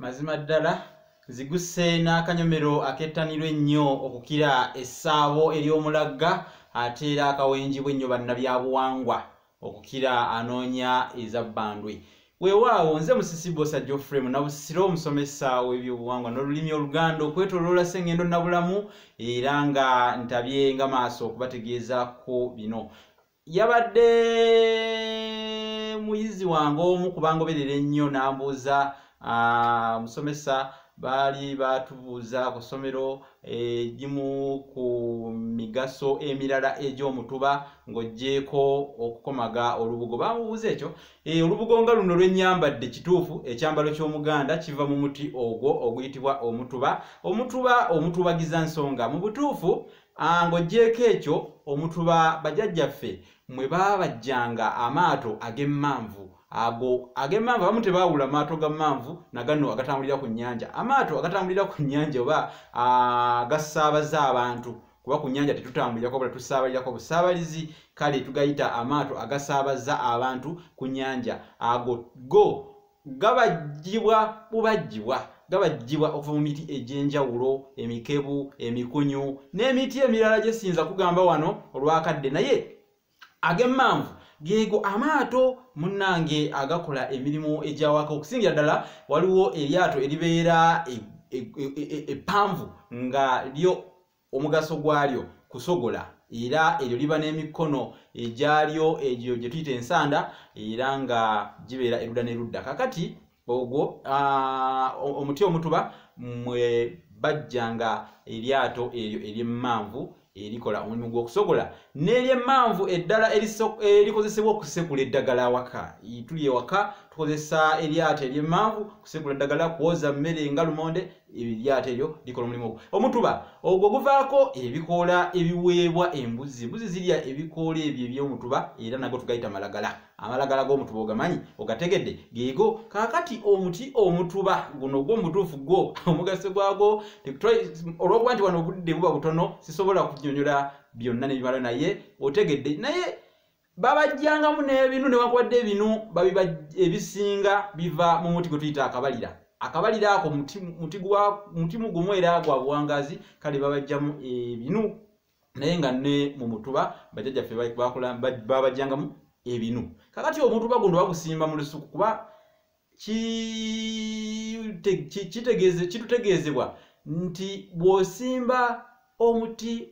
mazima ddala ziguse n'akanyomero akettanirwa ennyo okukira essaabo ery'omulagga ate era akawenjibwa ennyo bannabyabuwangwa okukira anoonya eza bbandwe weewaawo nze musisi bosa geoffrey munabusiro omusomesa w'ebyobuwangwa n'olulimi oluganda okwetoloola sengendo nabulamu era nga ntabye nga maaso okubategeeza ku bino yabadde muyizi wange omu kubangoberera ennyo n'ambuuza musomesa baali batubuuza ku ssomero egimu ku migaso emirala egy'omutuba ng'oggyeeko okukomaga olubugo bamubuuza ekyo e, olubugo nga luno lwennyambadde kituufu ekyambalo ky'omuganda kiva mu muti ogwo oguyitibwa omutuba omutuba omutubagiza nsonga mu butuufu Ah, ng'oggyeeko ekyo omuntu ba bajajjaffe mwe baabajjanga amaato ag'emmanvu ago ag'emmanvu abamu tebaawula amaato ga mmanvu na gano agatambulira ku nnyanja amaato agatambulira ku nnyanja oba ah, gasaabaza abantu kuba ku nnyanja tetutambulirako bula tusaabalirako busaabalizi kale tugayita amaato agasaabaza abantu ku nnyanja ago go gabajjibwa bubajjibwa gabajjibwa okuva mu miti egy'enjawulo emikebu emikunyu n'emiti emirala gye siyinza kugamba wano olwakadde naye ag'emmanvu geego amaato munnange agakola emirimu egyawaka okusingira ddala waliwo eryato eribeera eppanvu e, e, e, nga lyo omugaso gwalyo kusogola era eryo liba n'emikono egyalyo egyo gye tuyita ensanda era nga gibeera erudda n'erudda kakati ogwo omuti omutuba mwe bajjanga eryato eryo eryemmanvu erikola omulimu gw'okusogola n'eryemmanvu eddala erikozesebwa okusekula eddagala awaka tuli ewaka tukozesa eryato eryemmanvu kusekula eddagala kwoza mmere nga lumonde eryato eryo likola omulimu ogwo omutuba ogwo guvaako ebikoola ebiweebwa embuzi embuzi zirya ebikoola ebyo ebyomutuba era nago tugayita malagala amalagala g'omutuba ogamanyi ogategedde geego kaakati omuti omutuba guno ogwo omutuufu gwo omugaso gwagwo olwokuba nti wano obudde buba butono sisobola kunyonyola byonna nebimala naye otegedde naye babajjangamu n'ebinu newankubadde ebinu babiba ebisinga biva mu muti gwe tuyita akabalira akabalira ako mutimu gumu era gwa buwangazi kale babajjamu ebinu naye nga ne mu mutuba bajajjaffe babajjangamu ebinu kakati omutuba guno bagusimba mu lusuku kuba kitutegeezebwa nti bw'osimba omuti